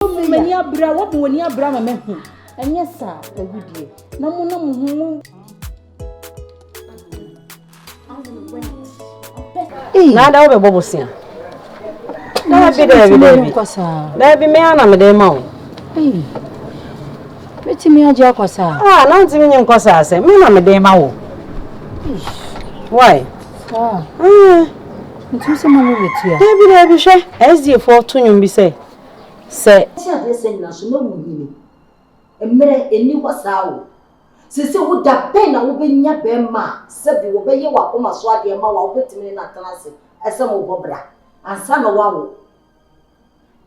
Mo mu m'ani abere a, wɔbɔ wɔn ani abere ama mahu. Ɛnyɛ saa, awu deɛ. Na mo na mo ho mo. Nada wobɛbɔ bosea. Daabi daabi daabi. Daabi me ana mede ma wo. Metumi agye akɔ saa. Ah, na ntumi nye nkɔ saa sɛ me na mede ma wo. Why? Ah. Ntumi sɛ mo mo betua. Daabi daabi hwɛ. SDA fo to nwom bi sɛ. Sɛ. Te adeɛsɛ nyina so na wo nyini. Mmerɛ ɛnni hɔ saa o. Sese wo da bɛn na wo bɛ nya bɛɛma a sɛbi wɔ bɛ yɛ wɔ akoma so adeɛ ma wo a wo bɛ tumi ne no atena ase ɛsɛ mo bɔ bra ansa na wa wo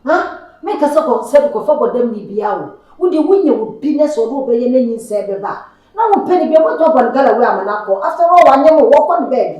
ha me nka sɛ kɔ sɛbi kɔ fa bɔ dam ni bia o wo deɛ wo nya wo bi nɛ sɛ ɔde wo bɛ yɛ na nyinsɛn bɛ ba a na wo mpɛ ni bia bɛ tɔ bɔ no gala wei ama no akɔ after all wanyɛ mo wɔ kɔ no bɛɛbi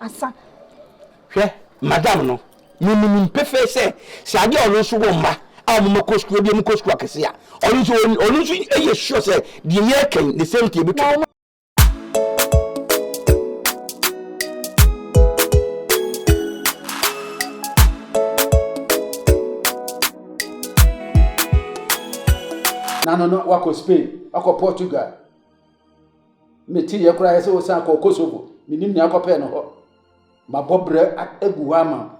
Asa. Hwɛ, madam no, me minim pefee sɛ, sɛ adeɛ a ɔno nso wɔ mma a ɔmo ma kɔ sukuu, ebi ɔmo kɔ sukuu akɛse a, ɔno nso, ɔno nso yɛ sure sɛ deɛ yɛ reka yi, the same thing ebi to no. Nano no, wakɔ Spain, wakɔ Portugal, Meteeɛ koraa yɛ sɛ ɔsan kɔɔ Kosovo. Menim nea akɔpɛɛ no hɔ. Mabɔ berɛ agu hɔ ama wo.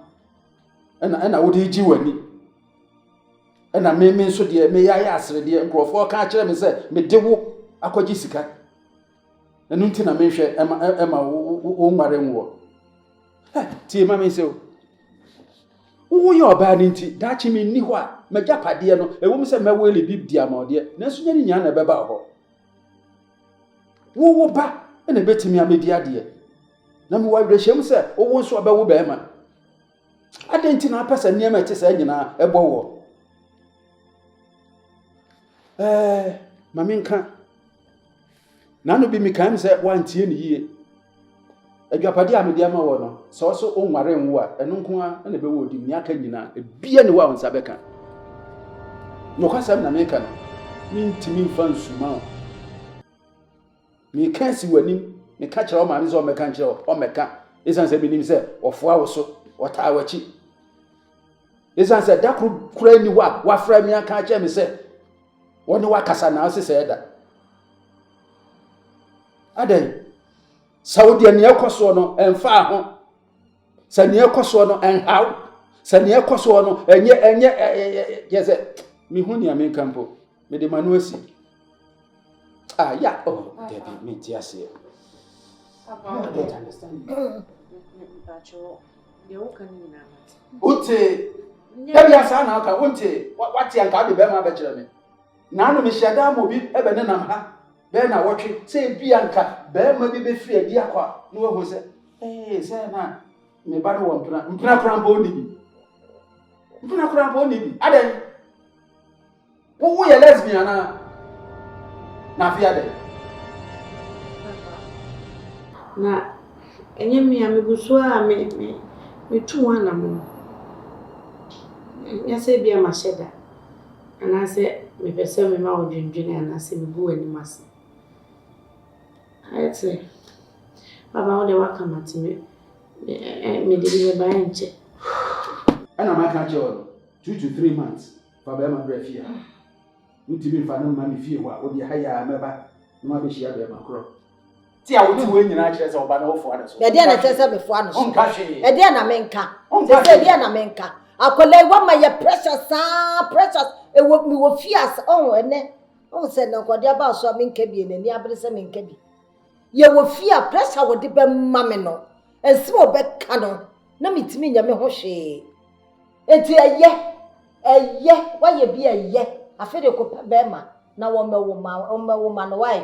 Ɛna ɛna wode regye w'ani. Ɛna me me nso deɛ meyɛ ayɛ aseredeɛ. Nkurɔfoɔ ka akyerɛ me sɛ mede wo akɔgye sika. Ɛno nti na menhwɛ ɛma ɛma wo nware nwoɔ. Ɛ tie ma me nsɛ o. Woyɛ ɔbaa no nti daakye menni hɔ a m'agyapadeɛ no ɛwɔ mu sɛ mɛwele bi di ama ɔdeɛ nanso nyɛ ne nyinaa na ɛbɛba hɔ. Wo wo ba na ɛbɛtumi amɛdi adeɛ. Na mewɔ awerɛhyɛm sɛ wowo nso ɔbɛwo bɛrima. Adɛn nti na apɛ sɛ nneɛma ɛte saa nyinaa ɛbɔ wɔ? Ɛɛ ma menka. N'ano bi mekae m sɛ wantie ne yie. Adwapade a mede ama wɔ no, sɛ ɔso onware nwo a, ɛno nko ara na ɛbɛwɔ odim. Nea aka nyinaa, ebiara ni hɔ a wo nsa bɛka. Nokwasɛm na meka no, mintumi mfa nsuma wo. Meka si w'anim, meka kyerɛ wo maame sɛ ɔmmɛka nkyerɛ wo, ɔmmɛka, esiane sɛ minim sɛ ɔfoa wo so, ɔtaa w'akyi. Esiane sɛ da koro koraa nni hɔ a wafrɛ me aka akyerɛ me sɛ ɔne wakasa na ɔse sɛ ɛda. adɛn sɛ wo deɛ nea ɛkɔ soɔ no ɛmfaa ho sɛ nea ɛkɔ soɔ no ɛnhaw sɛ nea ɛkɔ soɔ no ɛnyɛ ɛnyɛ yɛ sɛ mehu nea menka mpo mede ma no asi ah ya oh dabi menti aseɛ wote dabi asaa na aka wonte wate anka wode bɛrima bɛkyerɛ me Naanom nhyiadan mu bi bɛnenam ha bɛyɛ nnawɔtwe, sɛ ebia anka barima bi bɛfiri adi akɔ a, na wahu sɛ, ee, sɛ na me ba no wɔ mpena. Mpena koraa mpo ɔnni bi. Mpena koraa mpo ɔnni bi. Adɛn? Wo woyɛ lesbian anaa? Na afei adɛn? Na ɛnyɛ me a megu so a me me metu ho anammɔn. Ɛnyɛ sɛ ebia mahyɛ da. Anaasɛ mepɛ sɛ mema wo dwendwene anaasɛ megu w'anim ase? Ayɛ te. Baba wo deɛ woaka mate me mede bi meba ɛnkyɛ. Ɛna maka akyerɛ wo no, two to three months fa bɛɛma bra fie ha. Wontumi mfa no mma me fie hɔ a, wode ha yi ara mɛba na woabɛhyia bɛɛma korɔ. ti a wote wei nyinaa kyerɛ sɛ ɔba na wofoa no so ɛdeɛ na ɛkyerɛ sɛ mefoa no so wonka hwee ɛdeɛ na menka sɛ sɛ ɛdeɛ na menka akwadaa yi wama yɛ pressure saa pressure ɛwɔ mewɔ fie asa ɔho ɛnɛ ɔho sɛ na nkɔde aba so a menka bi n'ani abere sɛ menka bi yɛwɔ fie a pressure wɔde bɛma me no ɛnsɛ wɔ bɛka no na metumi nyɛ me ho hwee eti ɛyɛ ɛyɛ wayɛ bi ɛyɛ afei de kɔpɛ bɛrima na wɔmɛwo ma wɔmɛwo ma no wae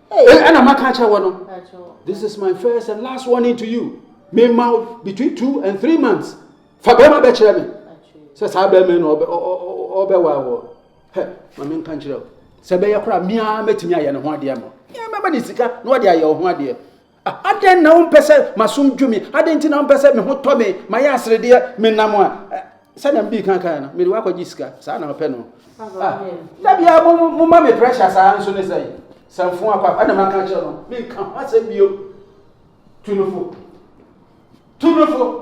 ɛna maka akyerɛ wɔ no this is my first and last warning to you me ma between two and three months fa bɛrima bɛkyerɛ me sɛ saa bɛrima na ɔbɛwa wɔ hɛ ma me nka nkyerɛ o sɛ bɛyɛ koraa mia mɛtumi ayɛ ne ho adeɛ ma mɛma ne sika na ɔde ayɛ ɔho adeɛ Adɛn na wompɛ sɛ m'asom dwo me? Adɛn nti na wompɛ sɛ me ho tɔ me, mayɛ aseredeɛ, menam a, ɛ, sɛdeɛ me dii kan kaeɛ no, mede wo akɔgye sika? Saa na wopɛ no? Ah, da biara mo, mo, moma me pressure saa nso ne sɛn? Samfo akɔ akɔ, ɛna maka akyerɛ no, menka ho asɛm bio. Tu no fo. Tu no fo.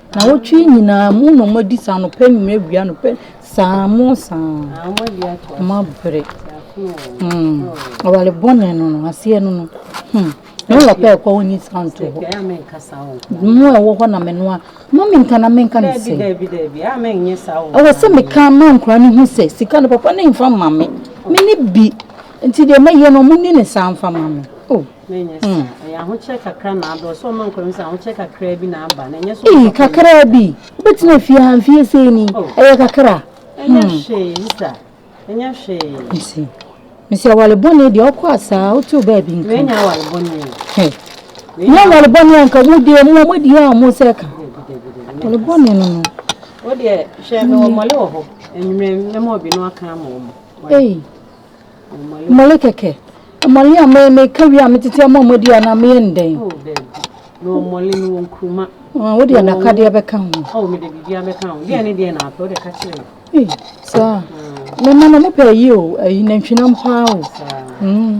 Nnawɔtwe yi nyinaa mo na wɔadi saa anɔpa, anwummerɛ, awia, anɔpa saa mo saa wɔn abrɛ hmm awale bɔne no no aseɛ no no hmm ne wɔ pɛ ɛkɔ hɔ ni saa nto hɔ mo a ɛwɔ hɔ na menoa ma menka na menka ne sɛ ɛwɔ sɛ meka ma nkora no hu sɛ sika no papa ne mfa ma me me ne bi nti deɛ mɛyɛ no mo ni ne saa mfa ma me oh Ei, kakraa bi? Wobɛtena afie ha mfeɛ sei ni? Ɛyɛ kakra? Mese, mese awale bɔne deɛ ɔkɔ asaa, wote wo baabi nka. Hwɛ, nyɛ awale bɔne a nka mo deɛ mo a moadi a mo sɛ ka. Awale bɔne no no. Wodeɛ, hwɛ, mewɔ mmɔle wɔ hɔ, anwummerɛ mɛma obi no aka ama wɔn. Ei. Mmɔle kɛkɛ. Mmɔle a me meka wie a metete ama ɔmo adi anaa meyɛ no dɛn? Oh daabi. Mewɔ mmɔle, mewɔ nkruma. Ah, wode adakadeɛ bɛka ho. Oh, mede biribiara bɛka ho. Deɛ ne deɛ na apɛ, wode ka kyerɛ me. Ei, saa. Mm. Mema no, mopɛ ayi o, ayi nantwinam paa o. Saa. Mm.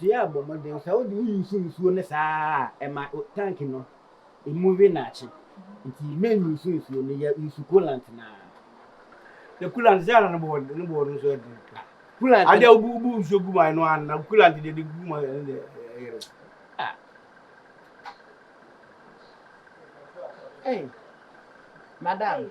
Dua bɔ mmɔden sɛ wode wo use nsuo no saa a ɛma tank no ɛmu we naakye nti men use nsuo no yɛ use coolant no ara. Sɛ coolant sɛ ana ne boɔ ne boɔ no nso ɛdene paa. Coolant adeɛ wobu wobu nsuo gu mu a ɛno ana coolant deɛ de gu mu a ɛno deɛ ɛyere. Ah. Hey, madam.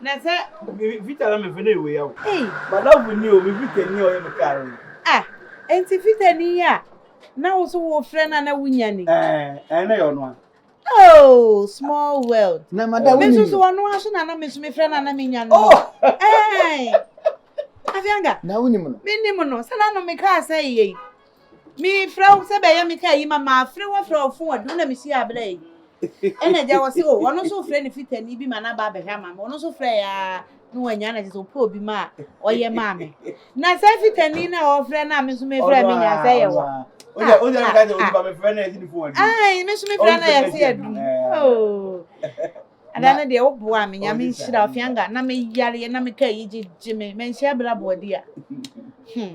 Na sɛ. Me Vita na me fɛ na ɛwɔ ya o. Ei. Madamfo ni o, me Vita ni a ɔyɛ me car no. Ah, enti Vita ni yi a na wo nso worefrɛ no a na wunya ni? Ɛɛ, ɛɛ na ɛyɛ ɔno ara. Oh, small world. Na Madam wunim no. Me nso so ɔno ara so na na me nso mefrɛ no a na menya no. Oh! Ɛɛ. Afianga. Na wunim no. Menim no, sɛ na no me car sɛeɛ yi. Mefrɛ wo sɛ bɛyɛ me kaa yi ma mafre wo afrɛ wo fon adu wo na mehyia abla yi ɛna agya wɔ se o oh, ɔno nso wofrɛ ne fitani bi ma no aba abɛhwɛ ama me ɔno nso frɛ ya na wanya na kyerɛ sɛ wopɛ obi ma a ɔyɛ maa me na sɛ fitani na ɔfrɛ no a me nso mefrɛ me nya sɛ yɛ wa me nso mefrɛ no yɛ se adu ada no deɛ woboa me nyame nhyira ɔfianga na meyareɛ na meka yi gyegye me manhyia bra boadi a hmm.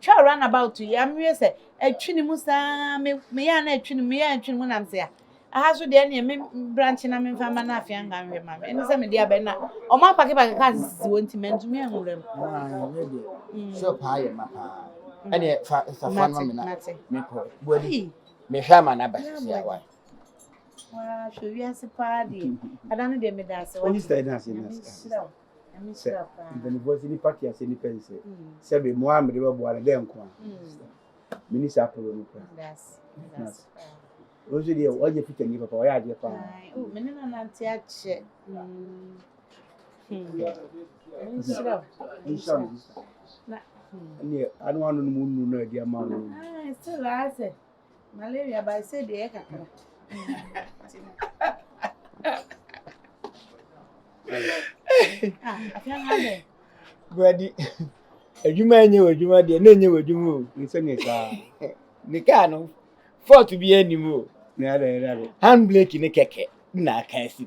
Twa run about yi am wie sɛ ɛtwi ne mu saa me me yɛ na ɛtwi ne mu yɛ ɛtwi ne mu nam sɛ a aha so deɛ neɛ me branch na memfa mma no afei anka nhwɛ ma me ɛne sɛ mede abɛn na ɔmo apake pake kaa sisi wɔ nti mantumi anwura mu mm. shop ha yɛ ma paa mm. ɛne fa fa fa no me na mekɔ buadi mehwɛ ama no aba sisi awa waa hwɛ wiase paa deɛ ada no deɛ meda ase wɔ Sɛ mpanimfoɔ sɛ nipa te aseɛ nipa nsɛ sɛ bi mo a mede bɛboa no dɛ nko a meni saa polo no kora ɔno nso deɛ ɔyɛ fitani papa ɔyɛ adeɛ paa mene no nante akyɛ nhyira nhyira na ɛneɛ ano ano no mu nnu no adi ama no still asɛ Malaria by say the air kakra. Brady, adwuma enye wɔ adwuma deɛ na enye wɔ adwuma o. Nse ne saa. Ne kaa no, fɔɔto bi anim o. Hand brake ne kɛkɛ na aka asi.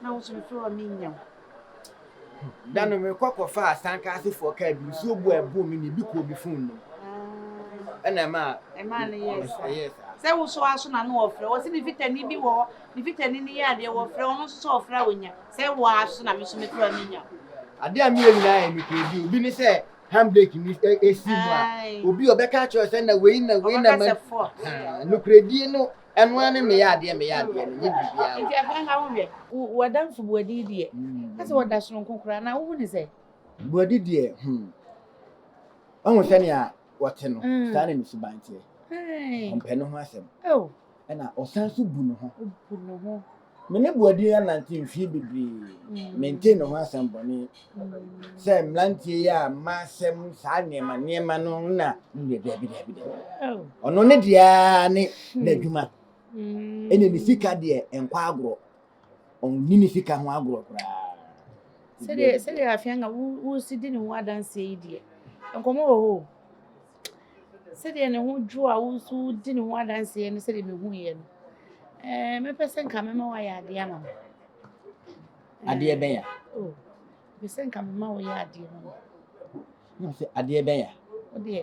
Na wo nso mefrɛ wo a mennya wo. Da no mekɔ kɔfaa sanka asefoɔ kaa bi nsuo bu a ɛboo me ne bi kɔɔ me fon nom ah. ɛna ɛmaa ɛmaa no yɛɛ saa sɛ wo so aso na no wɔfrɛ wɔ sɛ ne fitani bi wɔ hɔ ne fitani no yɛ adeɛ wɔfrɛ ɔno nso sɛ ɔfrɛ a wɔnya sɛ wɔ aso na me so mefrɛ a menya adeɛ a meyɛ nyinaa yɛ mekura bi obi ne sɛ handbrake ni esi mu a obi ɔbɛka akyerɛ sɛ na wei na wei na ma nokorɛdie no Ɛno ara ne meyɛ adeɛ meyɛ adeɛ no, nyɛ biribiara o. Nti ɛfa nka ho hwɛ. Wo w'adamfo Boadi deɛ, ka sɛ ɔda soronko koraa anaa wohu no sɛ. Boadi deɛ hmm, wahu sɛnea wɔte no, saa na ne suban teɛ. Ɔmpɛ ne ho asɛm. Ɛna ɔsan nso bu ne ho. Obu ne ho. Me ne Boadi anante mfeɛ bebree. Mentee ne ho asɛm bɔne sɛ mmeranteɛ yi a mma asɛm saa nneɛma nneɛma no na nnuɛ daabi daabi daabi. Ɔno ne deɛ ara ne n'adwuma. Ɛne ne sika deɛ nkɔ agorɔ. Ɔnni ne sika ho agorɔ koraa. Sɛdeɛ afei anka wosi di ne ho adanseɛ yi deɛ, nkɔmmɔ wɔ hɔ o. sɛdeɛ ne ho dwo a wo nso wodi ne ho adanseɛ no sɛdeɛ mehuiɛ no ɛɛ mɛpɛ sɛ nka mɛma woayɛ adeɛ ama me adeɛ bɛn a oh, mepɛ sɛ nka mema woyɛ adeɛ ma me sɛ adeɛ bɛn a wodeɛ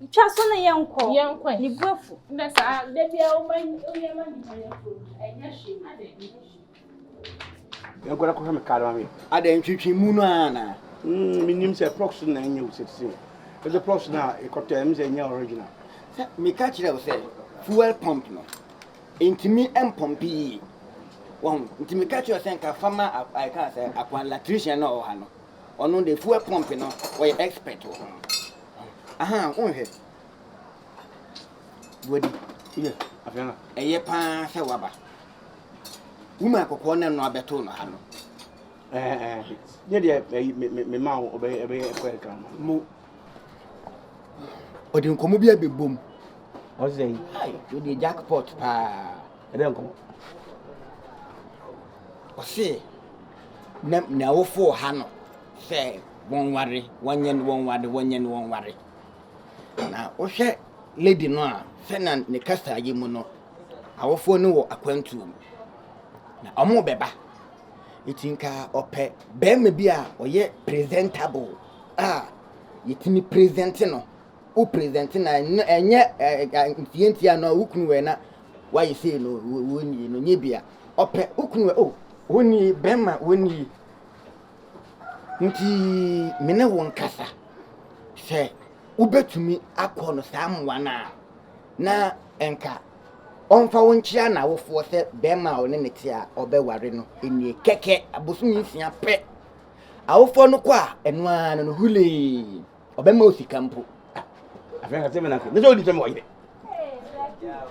Ntwa so na yɛn kɔ. Yɛn kɔ. Ne bu afu. Ndɛ saa dɛ bia ɔma ɔyɛ ma nipa yɛ fo ɛnyɛ hwee adɛ ɛnyɛ hwee. Ɛgɔrɛ kɔhwɛ me kaadɔ ma me. Adɛ ntwitwi mu no ara na. Mm me nim sɛ prox na ɛnyɛ wo sɛtisi o. Ɛdɛ prox na ɛkɔtɔ ɛm sɛ ɛnyɛ original. Sɛ me ka kyerɛ wo sɛ fuel pump no ntumi mpɔmpi yie. Wɔn nti me ka kyerɛ wo sɛ nka fama ɛka sɛ akwa latrician na ɔwɔ ha no. Ɔno de fuel pump no ɔyɛ expert wɔ ho. Aha wonhwɛ. Buadi. Yɛ afei na. Ɛyɛ paa sɛ waba. Wuma kɔkɔɔ na no abɛto no ha no. Ɛɛ eh, eh. yɛ deɛ ɛyi me me me ma wo ɔbɛyɛ ɛbɛyɛ ɛkɔ ɛkra ma. Mo. Ɔde nkɔmɔ bi abɛbom. Ɔsɛ yi. Ai, wode jackpot paa. Ɛbɛyɛ nkɔmɔ. Ɔse na n'awofo wɔ ha no sɛ wɔnware, wɔnyɛ no wɔnware, wɔnyɛ no wɔnware. Na wohwɛ lady no a sɛnea ne kasa yi mu no, awofoɔ no wɔ akwantuo mu. Na ɔmo bɛba. Eti nka ɔpɛ bɛrima bi a ɔyɛ presentable a yɛtumi presente no. Wo presente na ɛnyɛ ɛnyɛ ntiantia na wo kunu wɔ na Wayɛ sei no wo wo nie no nyɛ bia ɔpɛ wo kunu ɛ oh wo nie bɛɛma wo nie ntii me ne wo nkasa sɛ wo bɛtumi akɔ no saa mmoa no a na nka ɔmfa wo nkyea na awofoɔ sɛ bɛɛma a ɔne ne te a ɔbɛware no nie kɛkɛ abosomi nsia pɛ awofoɔ no kɔ a ɛno ara no no hulee. ɔbɛma wo sika mpo afei ka sɛ mena kɛ ne sɛ wodi sɛ mewɔ yere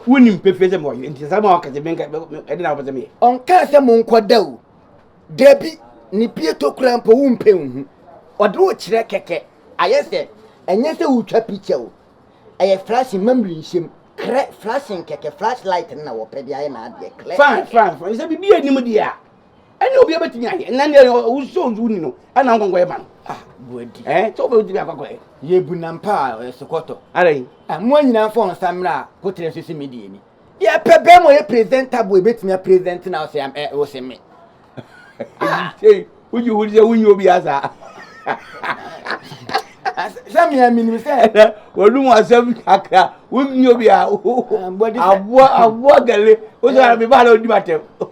wonim pefee sɛ mewɔ yere nti saa ma wɔka sɛ menka ɛde na wopɛ sɛ meyɛ ɔnkaa sɛ monkɔda o dabi ne pie to kora mpo wompɛ nhu ɔde wo kyerɛ kɛkɛ ayɛ sɛ ɛnyɛ sɛ wotwa picture o ɛyɛ flashing mamiri nhyɛm krɛ flashing kɛkɛ flashlight no na wɔpɛ de ayɛ n'adeɛ klɛ fine fine fine sɛ biribi anim deɛ a ɛne obi bɛtumi ayɛ ɛna ne ɛyɛ ɔwusɔ owu ni no ɛna nkɔnkɔ yɛ ma no ah buadi ɛɛ sɛ wobɛtumi akɔ akɔ yɛ yɛ bu nam pa a ɔyɛ sokɔtɔ ara yi ah mo nyinaa mfa wɔn nsa mmerɛ a kotere nso si mi deɛ ni yɛ pɛ bɛɛ mo yɛ presenter bo ebɛtumi a present na ɔsɛ am ɛ ɔsɛ me ah woyi wo sɛ wonyi obi asa sɛ mmea menim sɛ wɔnom asɛm kakra wonyi obi a aboa aboa gale wosɛ mebaa na ɔdi matɛm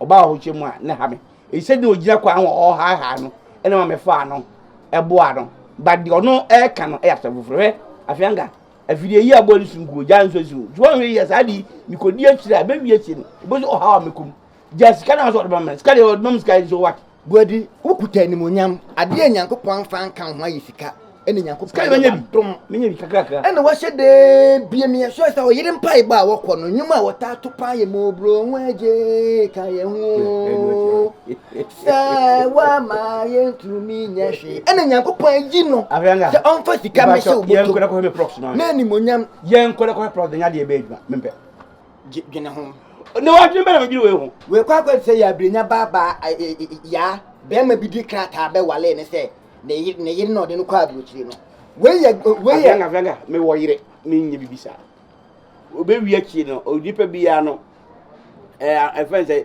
Ɔbaa ɔhokyɛ mu a na ɛha me. Enti sɛdeɛ na ɔgyina kwan ho a ɔrehaehae no na ɛma mefaa no boaa no. But deɛ ɔno reka no yɛ asɛm foforɔ. Hwɛ, Afeanka, afidie yi a ɛbɔ nsu nkuo, gyaa nsuo nsu. Nti woanhwɛ yie a, saa ade yi, mekɔdi akyire a, ɛbɛwie akyire no, wobɛhu ɔhaw a mɛkɔ mu. Gyaa sika no ara nso a ɔde bɛma me no, sika deɛ ɔde bɛma me sika yi nso what? Guadi, wokuta animuonyam, adeɛ a Nyankopɔn amfa anka wo ho ayɛ sika, ɛne Nyankopɔn ayɛ wadom, ɛna wahyɛ dee bie me ɛsoɛ sɛ ɔyere mpaebɔ a wɔkɔ no, nnwom a wɔtaa to paa yɛ mobro ho agye ka yɛ ho sɛ wama yɛ ntumi nyɛ hwe, ɛna Nyankopɔn ayi no sɛ ɔmfa sika mɛhyɛ wo bɔtom na animuonyam. Yɛnkɔ na kɔhwɛ prɔf de nyɛ adeɛ bɛyɛ adwuma mempɛ. dwene ho. Ne wadwene bɛ na medwene wei ho. Wei kɔ akɔ sɛ yɛabrenya baabaa yaa bɛrima bi di krataa bɛ walee ne sɛ ne yere ne yere na ɔde no kɔ aburokyire no. Wei yɛ wei yɛ. Afranga franga me wɔ yere me nyɛ bibi saa. Obewi akyie no onipa biara no ɛɛ ɛfɛn sɛ.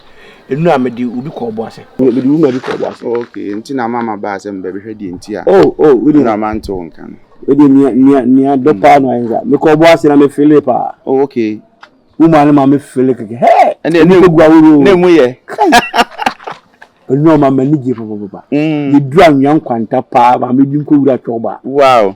Enu a mede obi kɔ ɔbo ase. Mede wo ma bi kɔ ɔbo ase. Oh ok, nti na ama ma baa sɛ me bɛbɛhwɛ deɛ nti a. Oh oh, wo deɛ. Ɛna ma nte wo nka no. Wo deɛ nea nea nea dɔ paa na ayɛ saa. Me kɔ ɔbo ase na me fele paa. Oh ok. Wo maa no ma me fele kɛkɛ. Hey! Ɛna emu kɔ gua wuro. Na emu yɛ. Enu a ɔma m'ani gye papapapa. Mm. Yeduru anwea nkwanta paa, maame bi nkɔ wura twɔba. Wow.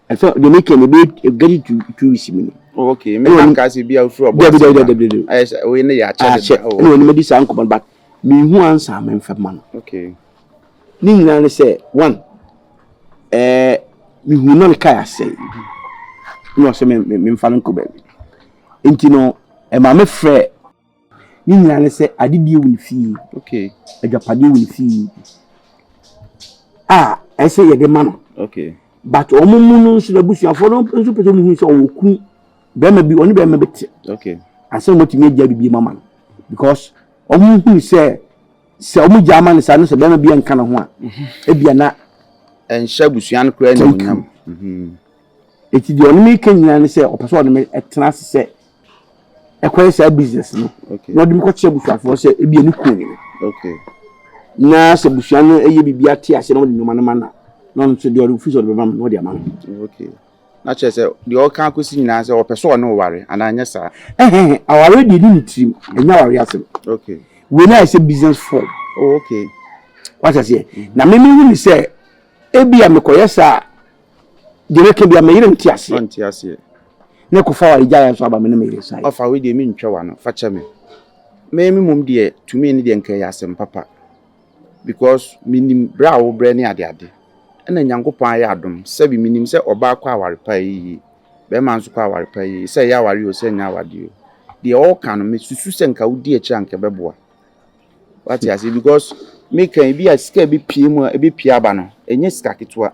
ɛsɛ deɛ meka no ɛbɛyɛ ɛbɛgadi two two weeks mu no ok me na nka sɛ bia wofiri ɔbɔ dabi dabi dabi dabi ayɛ sɛ woyi ne yɛ akyɛ de akyɛ ɛna wɔn madi saa nkɔmɔ but mehu ansa a memfa ma no ok ne nyinaa ne sɛ one ɛɛ mehu na ne kaa asɛe na ɔsɛ memfa no nkɔ baabi nti no ɛma mefrɛ Ne nyinaa ne sɛ adedie wɔ ne fie, agyapadeɛ wɔ ne fie a ɛsɛ yɛde ma no. But wɔn mu no nso n'abusuafoɔ no nso pɛ sɛ wɔn hu sɛ ɔwɔ kunu bɛrima bi ɔne bɛrima bi te. Asɛm wɔn tumi agya bibi ma ma no because wɔn hu sɛ sɛ wɔn gya ama no saa no sɛ bɛrima bi nka ne ho a ebia na. Ɛnhyɛ abusua no koraa ne mu nyam. Eti deɛ ɔne mi ka nyinaa ne sɛ ɔpɛ sɛ ɔne mi tena ase sɛ. ɛkɔyɛ saa business no na ɔde me kɔkyerɛ abusuafoɔ sɛ ebi ɛne kun no na sɛ abusua no ɛyɛ biribi ate ase na ɔde nneɛma no ma na na ɔno nso deɛ ɔde fi sɛ ɔde bɛma me na ɔde ama me. na kyerɛ sɛ deɛ ɔka akɔsi nyinaa sɛ ɔpɛ sɛ ɔne ɔware anaa nyɛ saa. ɛhɛn aware deɛ ne ne tirim ɛnyɛ aware asɛm wei na ayɛ sɛ business form. Oh, okay. wata seɛ na meme hu ne sɛ Ebia mekɔyɛ saa a, deɛ mɛka biara me yere nte aseɛ. Ɔnte aseɛ. Na ɛkɔfa awaregyaeɛ nso aba me ne me yere nsaeɛ. Ɔfa wei deɛ mentwa w'ano, fa kyɛ me. Me me mmom deɛ tumi no deɛ nka ɛyɛ asɛm papa because menim berɛ a wobrɛ ne adeade. Ɛna Nyankopɔn ayɛ adom sɛbe menim sɛ ɔbaa kɔ aware pa ɛyɛ yie, barima nso kɔ aware pa ɛyɛ yie, sɛ ɛyɛ awareɛ o sɛ ɛnyɛ awadeɛ o. Deɛ ɔɔka no mesusu sɛ nka wodi akyire a nka ɛbɛboa. Wate aseɛ because meka yi bi a sika a ɛbɛpue mu a ɛbɛpue aba no ɛnyɛ sika ketewa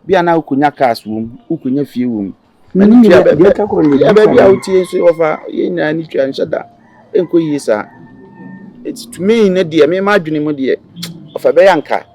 bi a na wokɔnya cars wɔ mu wokɔnya fie wɔ mu ɛne tua baabi a wotie nso wɔfa yɛn nyinaa ne tua nhyɛ da ɛnkɔ yie saa ɛti to me ne deɛ mema adwene mu deɛ ɔfa bɛyɛ anka